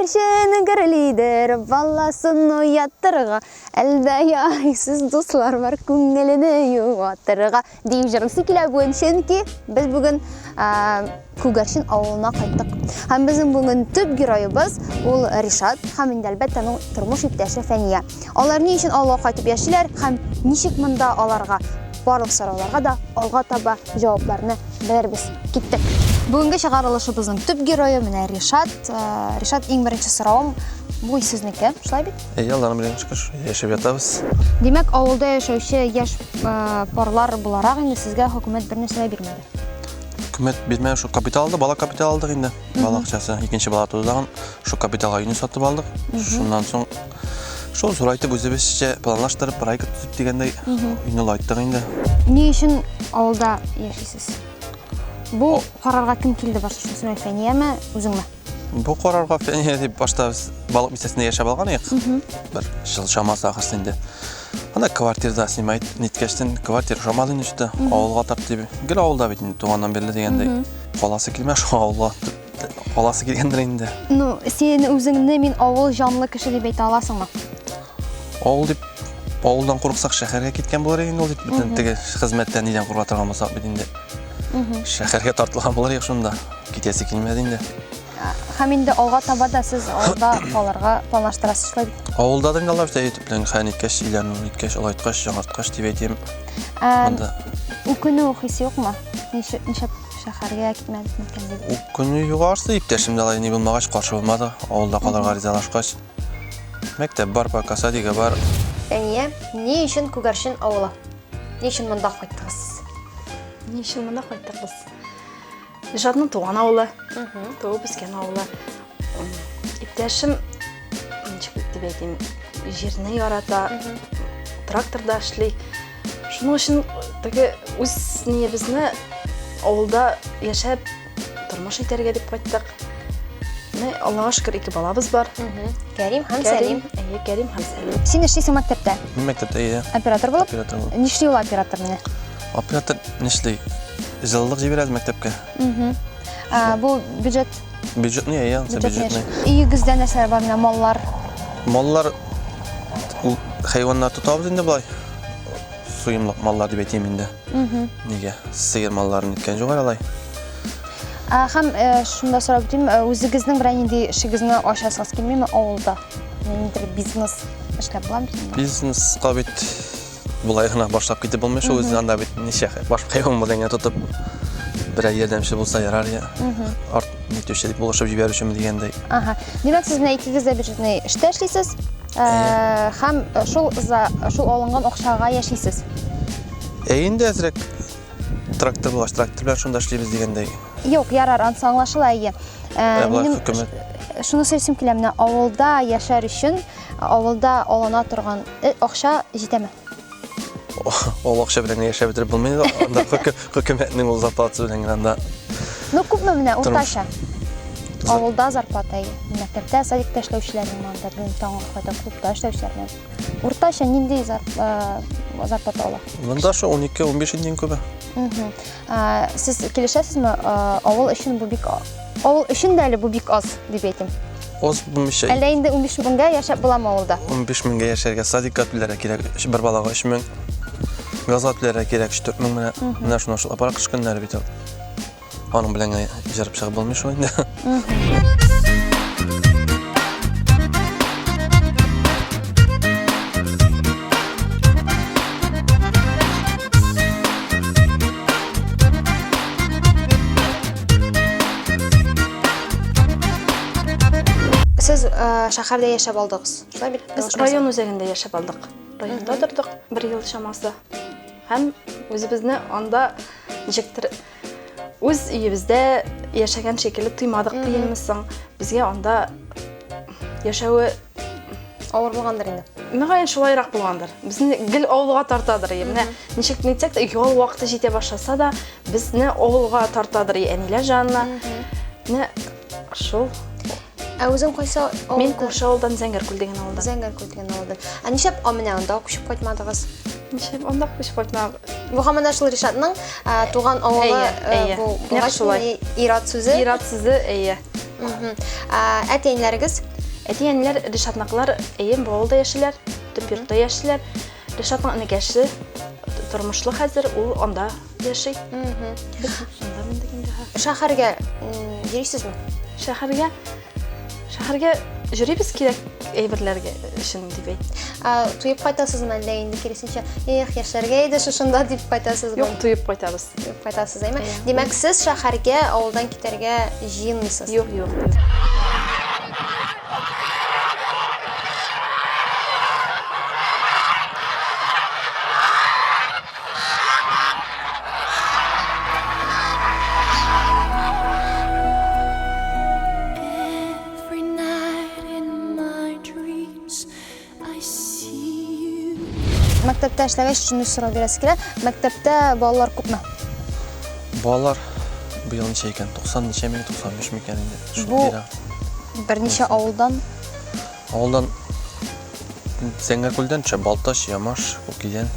Күгәрченең гөрлидер баласын уятырга, әлдә яйсыз дуслар бар күңелене юатырга дип җырлыйсы килә бүген, чөнки без бүген Күгәрчен авылына кайттык. Һәм безнең бүген төп героебыз ул Ришат һәм инде әлбәттә аның тормыш иптәше Фәния. Алар ни өчен авылга кайтып яшиләр һәм ничек монда аларга барлык сорауларга да алга таба җавапларны белербез. Киттек. Бүгенге чыгарылышыбызның төп герое менә Ришат. Э, Ришат, иң беренче соравым бу сезнеке, шулай бит? Әйе, э, Алланың белән шөкер, яшәп ятабыз. Димәк, авылда яшәүче яшь э, парлар буларак инде сезгә хөкүмәт бер нәрсә бирмәде. Хөкүмәт бирмәде, шул капитал алды, бала капитал алдык инде. Бала акчасы, икенче бала тудыган, шул капиталга өйне сатып алдык. Шуннан соң Шул сурайтып үзебезчә планлаштырып, проект төзеп дигәндәй, инде айттык инде. Ни өчен авылда яшисез? Бу карарга кем килде башы шунысы Фәнияме, үзеңме? Бу карарга Фәния дип башта без балык бистәсендә яшәп алган идек. Бер жыл чамасы ахырсы инде. Ана квартирда снимать ниткәчтен квартира шамал инде шуты авылга тап дип. Гел авылда бит инде туганнан бирле дигәндәй. Каласы килмә шул авылга. Аласы килгәндер инде. Ну, син үзеңне мин авыл җанлы кеше дип әйтә аласыңмы? Авыл дип авылдан курыксак шәһәргә киткән булыр инде ул бөтен теге хезмәттән нидән курка торган булсак бит инде шәһәргә тартылган булыр идек шунда китәсе килмәде инде һәм инде алга таба да сез авылда калырга планлаштырасыз шулай бит авылда да инде алар бит әйтеп белән хән иткәч өйлән иткәч олайткач яңарткач дип әйтәм ә, үкенү хисе юкмы ничә Шәһәргә китмәдек микән дип. Ул көне югарсы иптәшем дә алай ни булмагач каршы булмады. Авылда калырга ризалашкач. Мәктәп бар, пока садига бар. Әния, ни өчен Күгәрчен авылы? Ни өчен монда кайттыгыз? Ни өчен монда кайттыгыз? Ижатның туган авылы, туып үскән авылы. Иптәшем, ничек дип әйтим, җирне ярата, тракторда эшли. Шуның өчен теге үз ниебезне авылда яшәп тормыш итәргә дип кайттык. Менә Аллага шөкер, ике балабыз бар. Кәрим һәм Сәлим. Әйе, Кәрим һәм Сәлим. Син эшлисең мәктәптә? Мин мәктәптә әйе. Оператор булып? Оператор булып. Нишли ул оператор менә? Оператор нишли? Җылылык җибәрәбез мәктәпкә. Угу. А, бу бюджет Бюджетный, я ян, бюджет бюджетный. Өйегездә нәрсәләр бар менә маллар? Маллар ул хайваннар тотабыз инде болай. Суемлык маллар дип әйтәм инде. Угу. Нигә? Сыер малларын иткән җугар алай. А, һәм э, шунда сорап үтим, э, үзегезнең берәр нинди эшегезне ачасыз килмиме авылда? Ниндидер бизнес эшләп буламы? Бизнеска бит Болай гына башлап китеп булмый шул үзе анда бит ничә хәл. Башка юлын белән генә тотып берәр ярдәмче булса ярар я. Арт нитүче дип булышып җибәрү өчен дигәндәй. Ага. Димәк, сез менә икегез дә бюджетный эштә эшлисез. Ә, Һәм э, шул за шул алынган акчага яшисез. Ә инде әзрәк трактор булгач, трактор белән шунда эшлибез дигәндәй. Юк, ярар, ансы аңлашыла, әйе. Ә, Ә болай минем- хөкүмәт Шуны сөйлисем килә, менә авылда яшәр өчен Авылда алына торган э, акча җитәме? Ул акча белән яшәп бетереп булмый. Анда хөкүмәтнең ул зарплатасы белән генә анда. Ну, күпме менә уртача? Авылда зарплата, мәктәптә, садикта эшләүчеләрнең анда бүген таңга кадәр клубта эшләүчеләрнең. Уртача нинди зарплата ала? Монда шо 12-15 индин күбе. Сез килешәсезме? Авыл өчен бу бик авыл өчен дә әле бу бик аз дип әйтим. Аз булмыйча. Әллә инде 15 меңгә яшәп буламы авылда? 15 меңгә яшәргә садикка түләргә кирәк. Бер балага 3 мең. Газга түләргә кирәк 4 мең менә. Менә шуны шул апарак кыш көннәре бит ул. Аның белән җырып чыгып булмый шул инде. Сез э, шәһәрдә яшәп алдыгыз, шулай бит? Без район үзәгендә яшәп алдык. Районда тордык бер ел чамасы. Һәм үзебезне анда ничектер Үз өебездә яшәгән шикелле тоймадык дигәнме соң? Безгә анда яшәве авыр булгандыр инде. Мөгаен шулайрак булгандыр. Безне гел авылга тартадыр. Менә ничек нитсәк тә ял вакыты җитә башласа да, безне авылга тартадыр әниләр җанына. Менә Шул. Ә үзең кайсы авылда? Мин күрше авылдан Зәңгәркүл дигән авылдан. Зәңгәркүл дигән авылдан. Ә нишләп менә анда күчеп кайтмадыгыз? Нишләп анда күчеп кайтмадык? Бу һаман да шул Ришатның туган авылы бу. Нәкъ шулай. Ират сүзе. Ират сүзе, әйе. Әтиәниләрегез? Әтиәниләр Ришатныкылар, әйе, бу авылда яшиләр, төп йортта яшиләр. Ришатның энекәше тормышлы хәзер, ул анда Яши. Шәһәргә йөрисезме? Шәһәргә шәһәргә йөрибез кирәк әйберләргә өчен дип әйт. Туеп кайтасызмы әллә инде киресенчә, эх, яшәргә иде шушында дип кайтасызмы? Юк, туеп кайтабыз. Туеп кайтасыз, әйме? Димәк, сез шәһәргә авылдан китәргә җыенмыйсыз? Юк, юк, юк. мәктәптә эшләгәч шуны сорау бирәсе килә мәктәптә балалар күпме балалар быел ничә икән 90 ничәме 93 микән инде бу берничә авылдан Авылдан Сәңгәкүлдән төшә, Балтач, Ямаш, Күкидән.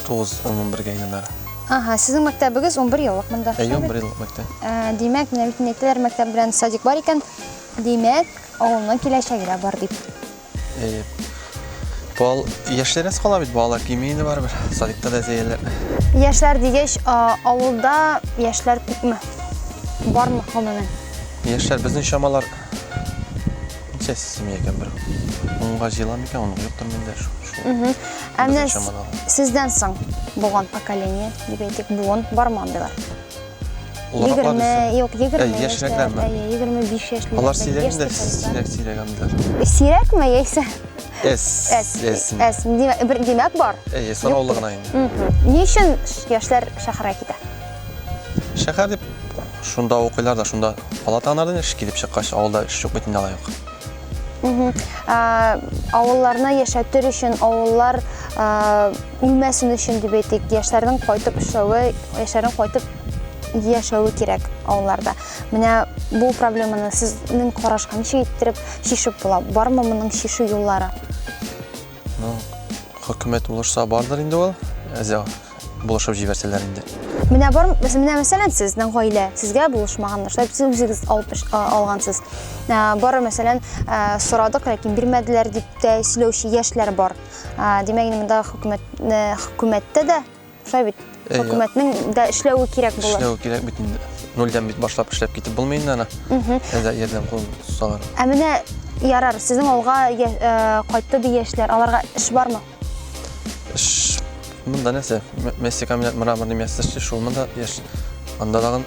Тугыз, ун-унбергә әйләнәр. Ага, сезнең мәктәбегез унбер еллык монда. Әйе, унбер еллык мәктәп. Ә, димәк, менә бит әйтәләр, мәктәп белән садик бар икән. Димәк, авылның киләчәге дә бар дип. Әйе. Бал яшьләрәс кала бит, балалар кими инде барыбер. Садикта да зәяләр. Яшьләр дигәч, авылда яшьләр күпме? Бармы, гомумән? Яшьләр безнең чамалар Сәс сими икән бер. Унга җыела микән, аны куеп тормыйм да шул. Мхм. Ә менә сездән соң булган поколение, дип әйтик, буын бармы андыйлар? Егерме, юк, егерме яшьләр, егерме биш яшьләр. Алар сирәк инде, сирәк, сирәк андыйлар. Сирәкме, яисә? Эс, эс, эс. Эс, димәк, бар. Эс, сораулы гына инде. Ни өчен яшьләр шәһәргә китә? Шәһәр дип шунда укыйлар да шунда ала тагыннардан эш килеп чыккач авылда эш юк бит инде алай ук. Авылларны яшәтер өчен, авыллар үлмәсен өчен дип әйтик, яшьләрнең кайтып эшләве, яшьләрнең кайтып яшәве кирәк авылларда. Менә бу проблеманы сезнең карашка ничек иттереп чишеп була? Бармы моның чишү юллары? Ну, хөкүмәт булышса бардыр инде ул. Әзә булышып җибәрсәләр инде. Менә бар, менә мәсәлән, сезнең гаилә сезгә булышмаган нәрсә, сез үзегез алып алгансыз. Бары мәсәлән, сорадык, ләкин бирмәделәр дип тә сөйләүче яшьләр бар. Димәк, монда хөкүмәт хөкүмәттә дә Шулай бит. Хөкүмәтнең дә эшләве кирәк булыр. Эшләве кирәк бит инде. Нольдән бит башлап эшләп китеп булмый инде ана. Әзә ярдәм кул салар. Ә менә ярар, сезнең авылга э, кайтты ди яшьләр. Аларга эш бармы? Эш монда нәрсә? Мәсе камилят мраморный мәсе эшли, шул монда яшь. Анда дагы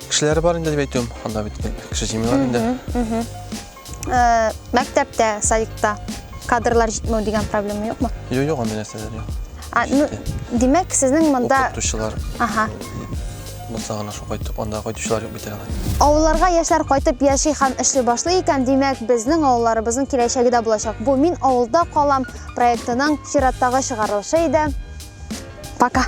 кешеләре бар инде дип әйтәм. Анда бит кеше җимиләр инде. Э, мәктәптә, садикта кадрлар җитмәү дигән проблема юкмы? Юк, юк, андый нәрсәләр юк. А, ну, димәк, сезнең монда укытучылар. Ага. Булса гына шул кайтып, анда кайтучылар юк бит әле. Авылларга яшьләр кайтып яши һәм эшли башлый икән, димәк, безнең авылларыбызның киләчәге дә булачак. Бу мин авылда калам проектының чираттагы чыгарылышы иде. Пока.